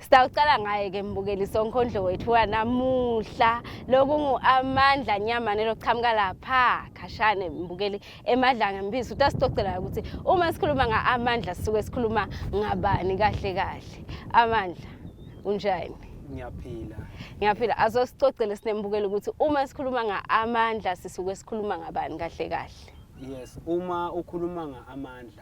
Sitawuqala ngaye ke mbukeli sonkondlo wethu wanamuhla lokungu-amandla nyamane lokuqhamuka lapha khashane mbukeli emadlanga mbizi ukuthi asixoxelayo ukuthi uma sikhuluma nga-amandla sisuke sikhuluma ngabani kahle kahle amandla unjani ngiyaphila ngiyaphila azosicocele sinembukeli ukuthi uma sikhuluma nga-amandla sisuke sikhuluma ngabani kahle kahle yes uma ukhuluma nga-amandla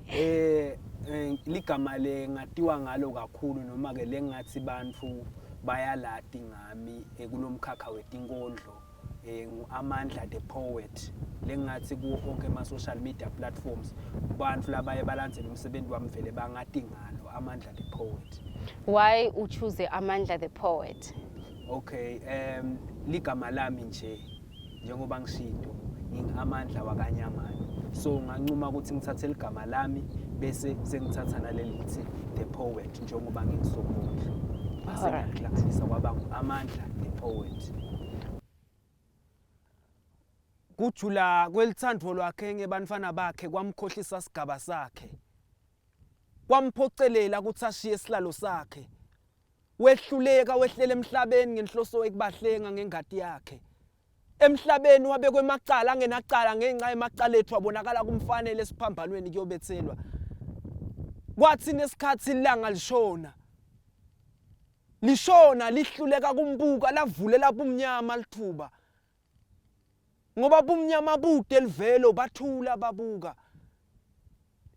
Eh, eh ligama le ngatiwa ngalo kakhulu noma ke lengathi bantu bayalati ngami eh, kulomkhakha wetinkondlo eh nguAmandla the poet lengathi kuwo onke ama social media platforms abantu labaye balandzela umsebenzi wami vele bangati ngalo Amandla the poet why u choose Amandla the poet okay um ligama lami nje njengoba ngishido ngingamandla wakanyamana so nganquma ukuthi ngithathe ligama lami bese sengithatha naleli lithi the poet njengoba ngingisomondla base ngiyahlanganisa kwaba amandla the poet kujula kwelithandvo lwakhe ngebantfwana bakhe kwamkhohlisa sigaba sakhe kwamphocelela ukuthi ashiye isihlalo sakhe Wehluleka wehlela emhlabeni ngenhloso ekubahlenga ngengadi yakhe. Emhlabeni wabekwe emacala angenacala ngenxa yemacala ethu abonakala kumfanele esiphambanweni kuyobethelwa. Kwathi nesikhathi ilanga lishona. Lishona lihluleka kumbuka lavulela bumnyama lithuba. Ngoba bumnyama bude livelo bathula babuka.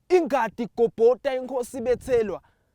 Ingadi igobhota inkosi bethelwa.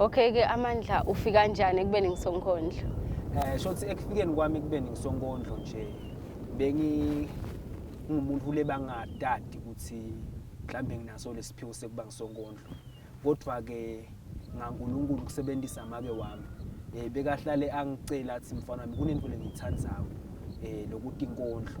Okay ke amandla ufika njani ekubeni ngisonkondlo? Eh shothi ekufikeni kwami ekubeni ngisonkondlo nje bengi ngumuntu ule bangadadi ukuthi mhlambe nginaso lesiphiwo sekuba ngisonkondlo. Kodwa ke ngaNkulunkulu kusebenzisa make wami. Eh bekahlale angicela athi mfana wami kunento lengiyithandayo eh lokuthi inkondlo.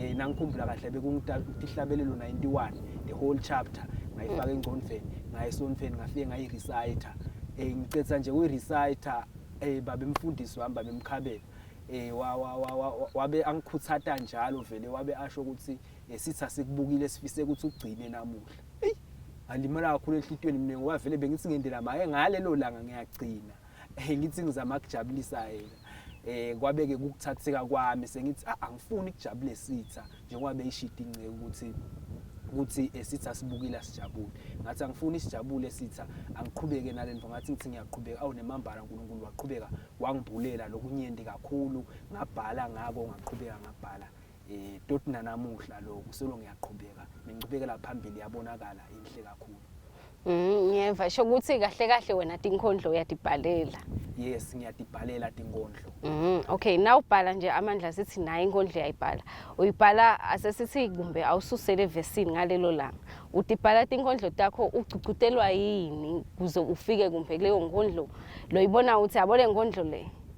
eh, nangikhumbula kahle bekungitihlabelelo 91 the whole chapter ngayifaka mm. engcondveni ngayesonfeni ngafike ngayireciter um eh, ngicetha nje kuyireciter um eh, babe mfundisi wami babe mkhabela eh wabe angikhuthata njalo vele wabe asho ukuthi eh, sithi asikubukile sifise ukuthi ugcine namuhla eyi alimala kakhulu enhlitweni mina ngoba vele bengithi ngendela maye ngalelo langa ngiyagcina hey ngithi ngizama kujabulisa yena eh kwabeke kukuthatheka kwami sengithi ah, angifuni kujabule sitha njengoba beyishidi inceke ukuthi ukuthi esithi asibukile asijabule ngathi angifuni isijabule sitha angiqhubeke nalento ngathi ngithi ngiyaqhubeka awu nemambala uNkulunkulu waqhubeka wangibhulela lokunyenti kakhulu ngabhala ngako ngaqhubeka ngabhala eh toti nanamuhla lokhu solo ngiyaqhubeka nenqubekela phambili yabonakala inhle kakhulu Mm, ngiyeva sho ukuthi kahle kahle wena tinkondlo uyadibhalela. yes ngiyadibhalela tinkondlo Mhm. Okay, now ubhala nje amandla sithi naye inkondlo uyayibhala. Uyibhala asesithi kumbe awususele vesini ngalelo langa. Udibhala tinkondlo takho ugcucutelwa yini kuze ufike kumbe kuleyo nkondlo loyibona uthi yabo le nkondlo le.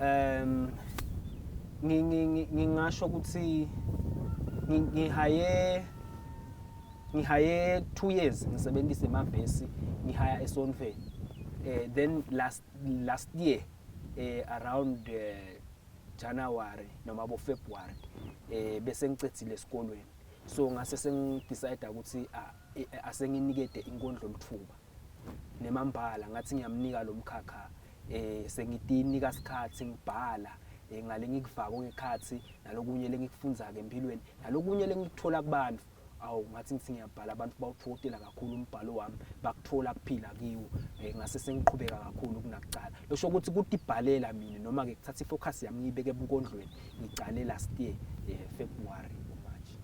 Um ngingasho ukuthi ngihaye ngihaye two years ngisebenzisa emavesi ngihaya esonfeni eh then last last year eh around eh, January noma bo February eh bese ngicethile esikolweni so ngase sengidecide ukuthi asenginikede inkondlo lithuba nemambala ngathi ngiyamnika lo mkhakha um sengitinika sikhathi ngibhala um ngale ngikufako ngekhathi nalokunye lengikufundza-ke empilweni nalokunye lengikuthola kubantu awu ngathi ngithi ngiyabhala abantu bawuthokotela kakhulu umbhalo wami bakuthola kuphila kiwo um ngase sengiqhubeka kakhulu kunakucala losho ukuthi ukuthi ibhalela mina noma-ke kuthatha i-focus yami ngiyibeke ebunkondlweni ngicale last year um february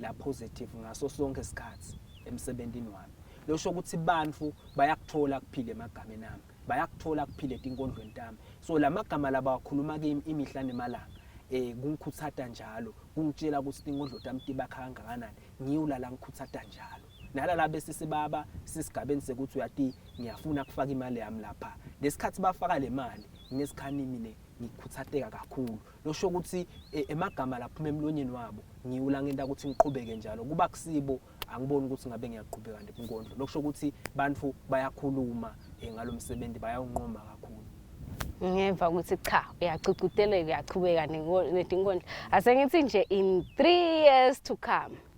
la positive ngaso sonke isikhathi emsebenzini wami losho ukuthi abantu bayakuthola kuphile emagameni ami bayakuthola kuphile tinkondlweni tami so lamagama laba wakhuluma kimi imihla nemalanga eh kungikhuthata njalo kungitshela ukuthi tinkondlo tami tibakha kangakanani ngiwulala ngikhuthata njalo nalala bese sibaba sisigabeni sekuthi uyati ngiyafuna kufaka imali yami lapha lesikhathi bafaka le mali ngesikhanimi ne ngikuthatheka kakhulu losho ukuthi e, emagama laphuma emlonyeni wabo ngiwula ngento ukuthi ngiqhubeke njalo kuba kusibo angiboni ukuthi ngabe ngiyaqhubeka nje kunkondlo lokusho ukuthi bantu bayakhuluma eh, ngalo msebenzi bayawunqoma kakhulu ngeva ukuthi cha uyacucuteleka uyaqhubeka nenkondlo asengithi nje in 3 years to come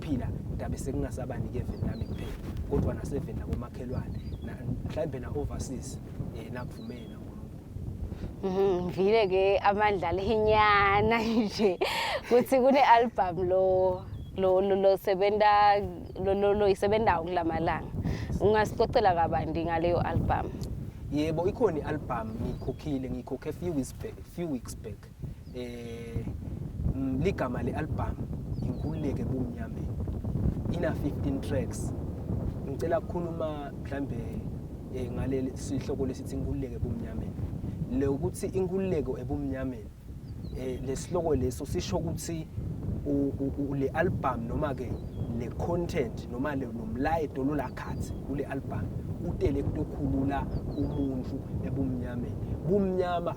phila ndabe sekungasabani ke veni lami kuphela kodwa naseveni nakomakhelwane mhlawumbe na-overseas um eh, nakuvumele mhm, ngivile ke amandla lenyana nje kuthi kune-albhamu lo lo lo sebenza lo lo lo isebenzayo kulamalanga ungasicocela kabandi ngaleyo albhamu yebo ikhona i-albhamu ngiyikhokhile ngiyikhokhe few weeks back few weeks back eh ligama le album inkululeke kumnyameni ina 15 tracks ngicela kukhuluma mhlambe eh, ngaleli sihloko lesithi inkululeke kumnyameni le ukuthi inkululeko ebumnyameni eh lesihloko leso sisho ukuthi le album noma ke le content noma le nomlayeto lolakhathi kule album utele kutokhulula umuntu ebumnyameni bumnyama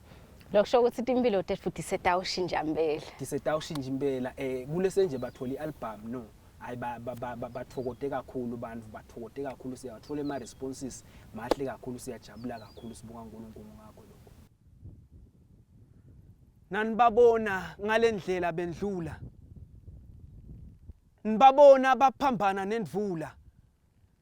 lokusho ukuthi timpilo tetfu tisetawushintsha mpela tisetawushintsha impela um eh, kulese nje bathola i-albhamu no hayi bathokote kakhulu abantu bathokote kakhulu siyawathola ema-responses mahle kakhulu siyajabula kakhulu sibonga unkulunkulu ngakho lokho nanibabona ngale ndlela bendlula nibabona baphambana nendvula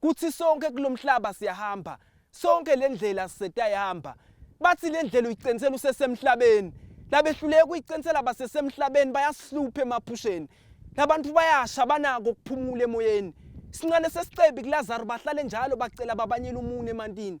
Kuthi sonke kulomhlaba siyahamba, sonke lendlela sisetayihamba. Bathi lendlela uyicenisela usesemhlabeni. Labehluleka ukuyicenisela basesemhlabeni bayasihlupha emaphusheni. Labantu bayasha banako ukuphumula emoyeni. Sincane sesicebi kuLazaru bahlale njalo bacela babanyela umunwe emantini.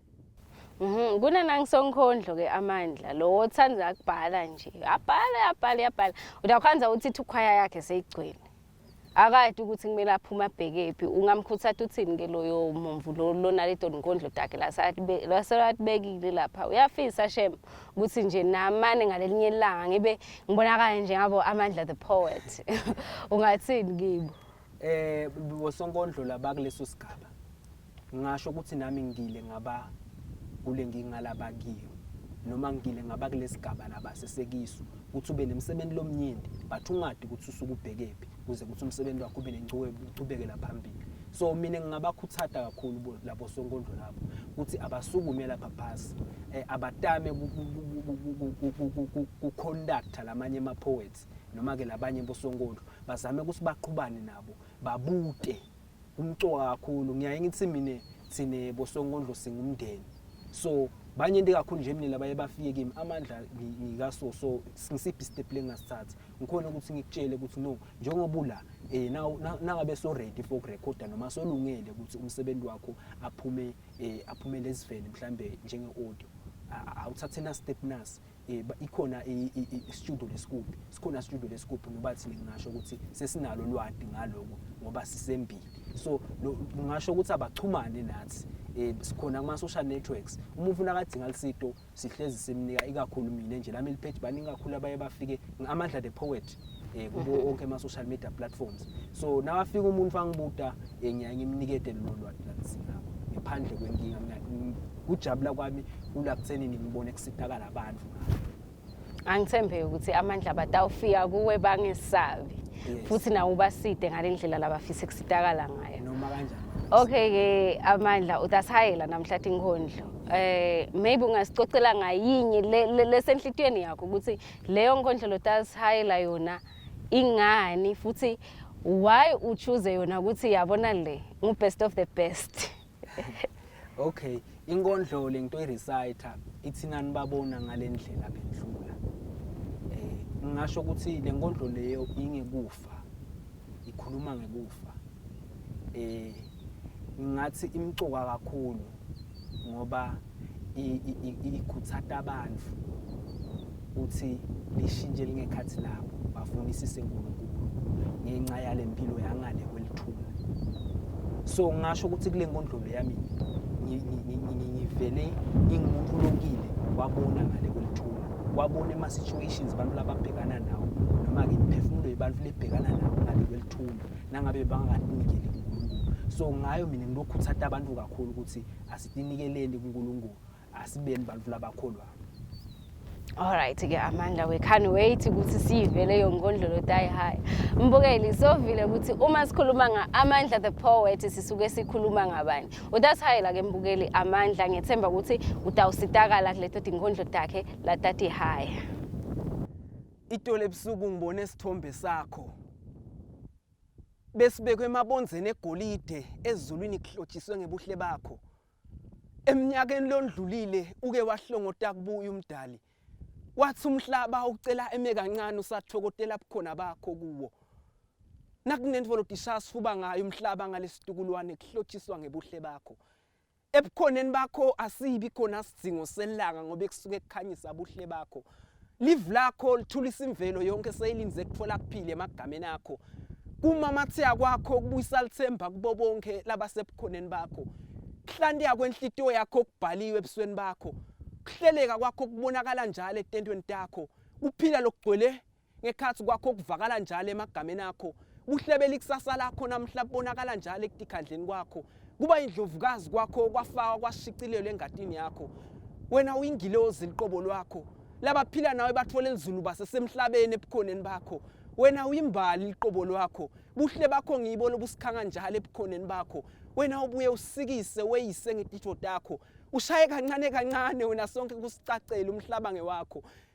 Mhm kunanangisonkhondlo ke amandla lo othanda akubhala nje abhala abhala abhala udakhwanza uthi thukhwaya yakhe seyigcwele akade ukuthi kumele aphume abhekephi ungamkhuthatha uthini ke loyo mumvu lo lona le doni nkondlo dakhe laselatibekile lapha uyafisa shem ukuthi nje namane ngalelinye ilanga ngibe ngibonakala nje ngabo amandla the poet ungathini kibo Eh bosonkondlo labakuleso sigaba. Ngasho ukuthi nami ngile ngaba kule ngingalaba kiyo noma ngile ngaba kulesigaba laba sesekiso ukuthi ube nemsebenzi lomnyenti but ungadi ukuthi usuke ubhekephi kuze ukuthi umsebenzi wakho ube nencubekela phambili so mina ngingabakhuthata kakhulu labo sonkondlo labo ukuthi abasukume lapha phasi eh, abatame kuconducta lamanye ama-poets noma ke labanye bosonkondlo bazame ukuthi baqhubane nabo babute umcoka kakhulu ngiyaye ngithi mina thine bosonkondlo singumndeni so banye into kakhulu nje mina labaye bafike kimi amandla ngikaso so ngisiphi step lengasithatha ngikhona ukuthi ngikutshele ukuthi no njengoba ula eh nangabe so ready for record noma solungele ukuthi umsebenzi wakho aphume eh aphume lezivele mhlambe njenge audio awuthathe na step nasi eh, ikhona istudio lesikubhi sikhona studio lesikubhi ngoba thina ngingasho ukuthi sesinalo lwadi ngaloko ngoba sisembili so ngingasho ukuthi abachumane nathi eh sikhona kuma social networks uma ufuna kadinga lisito sihlezi simnika ikakhulu mina nje lami lipage baningi kakhulu abaye bafike amandla the poet eh kubo mhm. onke ama social media platforms so nawafika umuntu angibuda eh, ngiyaye ngimnikete lolu lwazi lalisinabo ngiphandle kwenkinga mina kujabula kwami kula kutheni ngibone kusitakala abantu angithembeki ukuthi amandla batawufika kuwe bangesabi futhi nawo ubaside ngale ndlela labafisa kusitakala ngayo noma kanjani okay ke amandla utasihayela namhlathi inkondlo eh maybe ungasicocela ngayinye lesenhlitiyweni yakho ukuthi Leyo nkondlo Lotas Hayla yona ingani futhi why u choose yona ukuthi yabona le ngu best of the best. Okay, inkondlo lento i reciter ithinani babona ngalendlela bendlula. Eh ngingasho ukuthi lenkondlo leyo ingekufa. Ikhuluma ngekufa. Eh ngingathi imcuka kakhulu ngoba ikhuthata abantu ukuthi lishintshe lingekhathi labo bafunisise uNkulunkulu ngenxa yale mpilo yangale kwelithuna so ngasho ukuthi kule nkondlolo yami ngivele ngingumuntu olokile wabona ngale kwelithuna wabona ema-situations abantu lababhekana nawo noma-ke imiphefumulo yebantu lebhekana nawo ngale kwelithuna nangabe bangakatinikeli kuNkulunkulu so ngayo mina ngilokhuthata abantu kakhulu ukuthi asitinikeleni kuNkulunkulu asibeni bantu labakholwayo Alright ke Amanda we can't wait ukuthi sive leyo ngondlolo die high. Mbukeli sovile ukuthi uma sikhuluma nga Amanda the poet sisuke sikhuluma ngabani. Udathayela ke mbukeli Amanda ngethemba ukuthi utawusitakala kuleto tingondlo takhe latati high. Itolo ebusuku ngibone isithombe sakho. Besibekwe emabonzeni egolide ezulwini kuhlotshiswe ngebuhle bakho. Eminyakeni londlulile uke wahlongota kubuya umdali. Wathi umhlaba ucela eme kancane usathokotela bukhona bakho kuwo. Nakunento volotishaya sifuba ngayo umhlaba ngalesitukulwane kuhlotshiswa ngebuhle bakho. Ebukhoneni bakho asibi khona sidzingo selanga ngoba ekusuke kukhanyisa buhle bakho. Live lakho lithulisa imvelo yonke seyilinze kutfola kuphile emagameni akho. Kumamatheka kwakho kubuyisa lithemba kubo bonke labasebukhoneni bakho. Kuhlantika kwenhlitiyo yakho kubhaliwe ebusweni bakho. Kuhleleka kwakho kubonakala njalo etentweni takho. Kuphila lokugcwele ngekhathi kwakho kuvakala njalo emagameni akho kuhlebela ikusasa lakho namhla kubonakala njalo ekutikhandleni kwakho kuba indlovukazi kwakho kwafakwa kwashicilelwa engatini yakho wena uyingilozi liqobo lwakho labaphila nawe bathola elizulu basesemhlabeni ebukhoneni bakho wena uyimbali liqobo lwakho buhle bakho ngibo lobusikhanga njalo ebukhoneni bakho wena ubuye usikise weyise ngetitho takho ushaye kancane kancane wena sonke kusicacele umhlaba ngewakho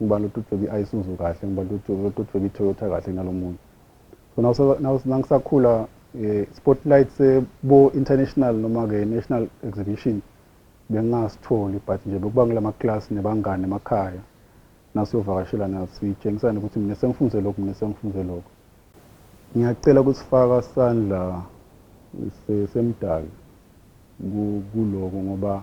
ngubani lototshweba i-isuzu kahle ngubani lototshweba i-toyota kahle kunalo munye so nangisakhula um spotlight sebo-international noma-ke national exhibition bengingasitholi but nje bekuba ngila maklasi nebangani emakhaya nasiyovakashela nasitshengisane ukuthi mina sengifunze lokhu mina sengifunze lokhu ngiyacela ukuthi faka sandla semdali kuloko ngoba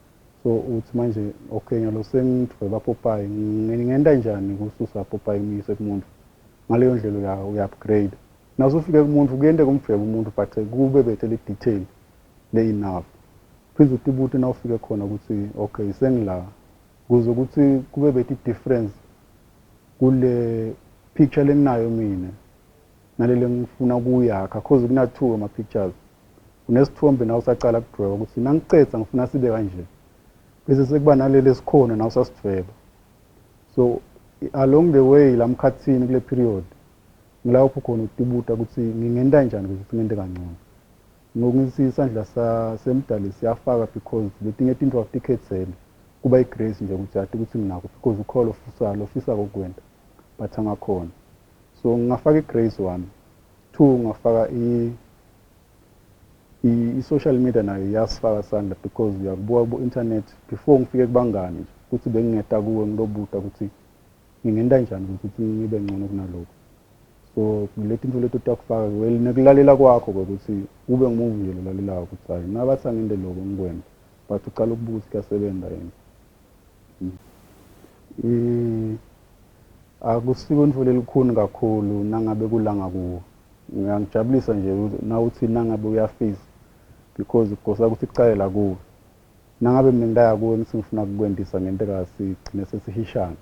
So uthi manje okay ngiyalo sengidweba popayi ngingenta njani kususa popayi umyise kumuntu ngaleyo ndlela uya uya upgrade naso ufike kumuntu kuyente kumdweba umuntu but kube bethe le detail le enough phinde utibute na ufike khona ukuthi okay sengila kuze ukuthi kube bethi difference kule picture lenginayo mina nalele ngifuna kuyakha cause kuna two ama pictures unesithombe nawe usacala kudweba ukuthi nangiqeda ngifuna sibe kanje bese sekuba naleli esikhona nawe usasidweba so along the way la mkhathini kule period ngilawupho khona utubuta ukuthi ngingenta njani ukuthi singente kangcono ngokungithi isandla semdali siyafaka because letinye tinto awutikhethele kuba igrace nje ukuthi ati ukuthi nginako because ukholo ofisa lokufisa kokwenta but angakhona So ngingafaka iGrace one. Two ngingafaka i i-social media nayo iyasifaka sandla because uyakubuka ku-internet before ngifike kubangani nje ukuthi bengingeta kuwe ngilobuta ukuthi ngingenta njani ukuthi ngibe ngcono kunalokhu so leti nto leti utakufaka well nekulalela kwakho kwekuthi kube ngimuvi nje lolalelayo ukuthi hhayi nabathi angente loko ngikwenta but ucala ukubuka ukuthi kuyasebenza yini Mm. Akusiko intfuli elikhuni kakhulu nangabe kulanga kuwo. Ngiyangijabulisa nje nawuthi nangabe uyafisa because kugosa ukuthi kucale la kuwe. Nangabe mina ngitaya kuwe ngithi ngifuna kukwendisa ngenteka sigcine sesihishana.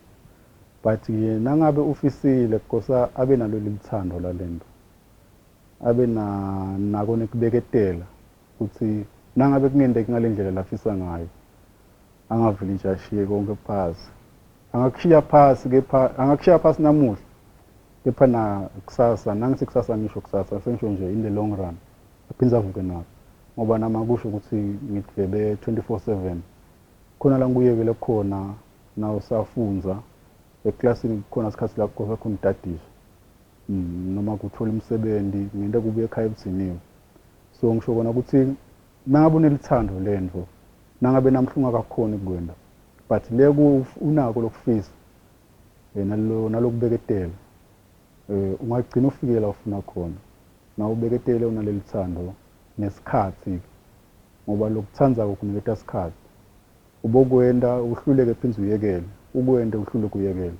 But nje nangabe ufisile kugosa abe nalo lelithando lalento. Abe na nako nekubeketela. Futhi nangabe kungenteki ngale ndlela lafisa ngayo, angavele nje ashiye konke phasi. Angakushiya phasi kepha angakushiya phasi namuhla kepha na kusasa nangithi kusasa ngisho kusasa sengisho nje in the long run aphinde avuke nabo ngoba nami akusho ukuthi ngidlebe 24/7 khona la ngibuyekele khona nawe usafunza eklasini kukhona isikhathi la kukhona khona udadiswa mm, noma kuthola umsebenzi ngente kubuye ekhaya ebudiniwe so ngisho kona ukuthi nangabe unelithando lento nangabe namhla ungakakhoni ukukwenda but le unako lokufisa eh, nalokubeketela um ungagcina ufikela ufuna khona nawubeketele unaleli thando nesikhathi ngoba lokuthanda kokuniketa isikhathi ubokwenda uhluleke phinde uyekele ukwenda uhluleke uyekele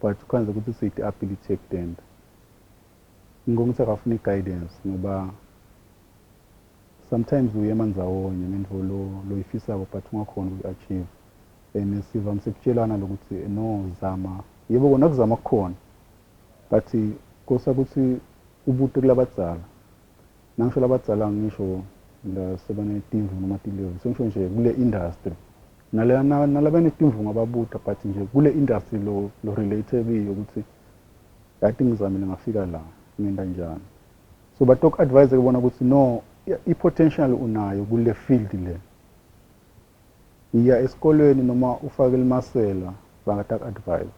But uKhanza ukuthi useyi the ability yokutenda. Ngibonga ukuthi akafuni i guidance ngoba sometimes uyema ndzawonye ngento lo loyifisako but ungakhoni ukuyi achieve. And sivamise kutshelana lokuthi no zama yebo kona kuzama kukhona but kosa ukuthi ubute kulabadzala Nangisho labadzala angisho lasebanetimvu noma tilevu sengisho nje kule industry nale nalabenetimvu ngababuta but nje kule industry lo lo relate kiyo ukuthi yati ngizamile ngafika la ngenta njani so batoku advise ke bona ukuthi no i potential unayo kule field le yiya esikolweni noma ufake limasela bangataku advise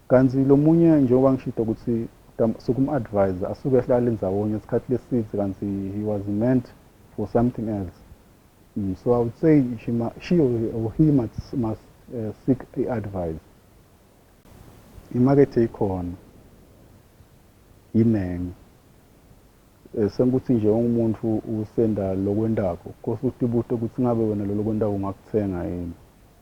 Kanti lomunye njengoba ngishito ukuthi Tam sukum advise asuke ehlale ndzawonye sikhathi lesidze kanti he was meant for something else mm so I would say she ma she or he must must uh, seek i advise imakethe ikhona yiningi Eh, senkuthi nje ungumuntu usenda lokwentako kose utibute ukuthi ngabe wena lolokwentako ungakuthenga yini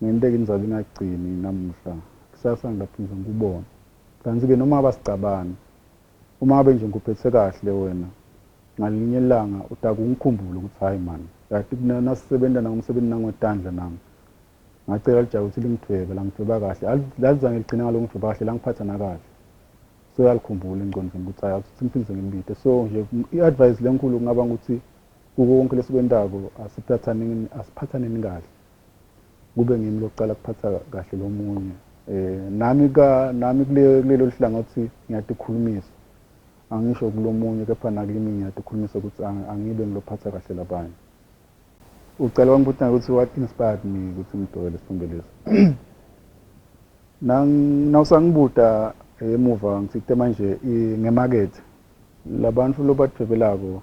Ngenteke inzalo ingagcini namuhla, kusasa ngingaphinde ngikubone. Kanti ke noma ngaba sicabani, uma ngabe nje ngikuphethe kahle wena, ngalinye ilanga utake ungikhumbule ukuthi hhayi man, kati kna nasisebenza nangu msebenzi nangu wetandla nangu. Ngacela lijaha ukuthi lingidvwebe, langidvweba kahle. Al lalizange ligcine ngaloku ngidvweba kahle, langiphatha nakahle. So yalikhumbula engcondvweni ukuthi hhayi akusithi ngiphinde sengimbite. So nje i advise lenkhulu kungaba ngukuthi Kuko konke lesikwentako asiphatsaneni asiphatsaneni kahle kube ngimi lokucala kuphatsa kahle lomunye eh nami ka nami kule kulelo lihlangothi ngiyatikhulumisa angisho kulomunye kepha nakimi ngiyatikhulumisa ukuthi angibe ngilophatsa kahle labanye ucela wangibuta ukuthi what inspired me ukuthi ngidwebe lesithombe lesi nawusangibuta emuva ngithite manje ngemakethe labantu lobadwebelako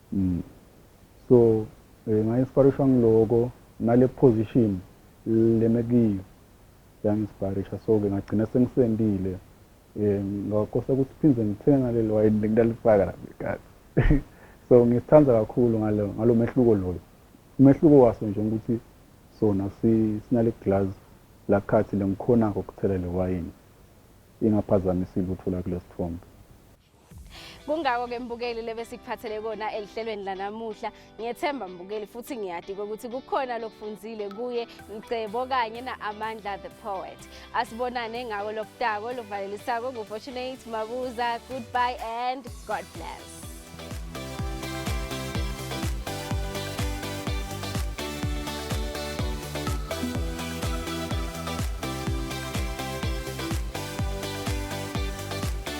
Mm. So eh, ngaye siparisha ngiloko nale position leme kiyo yangisiparisha so ke ngagcina sengisendile eh ngakosa ukuthi phinde ngithenga leli wayini bengilalifaka la ngekati so ngisithanda kakhulu ngalo ngalo mehluko loyo umehluko waso nje ukuthi sona sinale glass lakhathi lengikhona ukuthela le wayini ingaphazamisa ilutho lakule sithombe kungako-ke mbukeli lebesikuphathele kona elihlelweni lanamuhla ngiyethemba mbukeli futhi ngiyadika ukuthi kukhona lokufunzile kuye mcebo kanye na-amandla the poet asibonane ngako lokutako lovalelisako ngufortunate mabuza goodbye and god bless